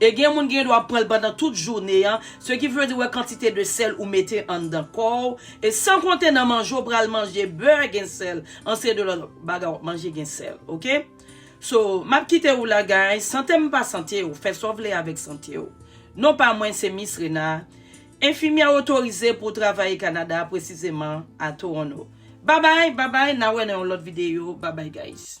E gen moun ki gen dwa pranl pandan tout jounen an, ce qui veut dire wè kantite de sèl ou mete anndan kòw, e san konte nan manje w pral manje beurre gen sèl, an seri de lòt bagay wap manje gen sèl ok. So map kitew la guys, santem pa santew, fè sa w vle avèk santew. Non pa mwen se Miss Rena, enfimyè otorize pou travaye Canada presizeman a Toronto. Babay babay na wè nan yon lòt video babay guys.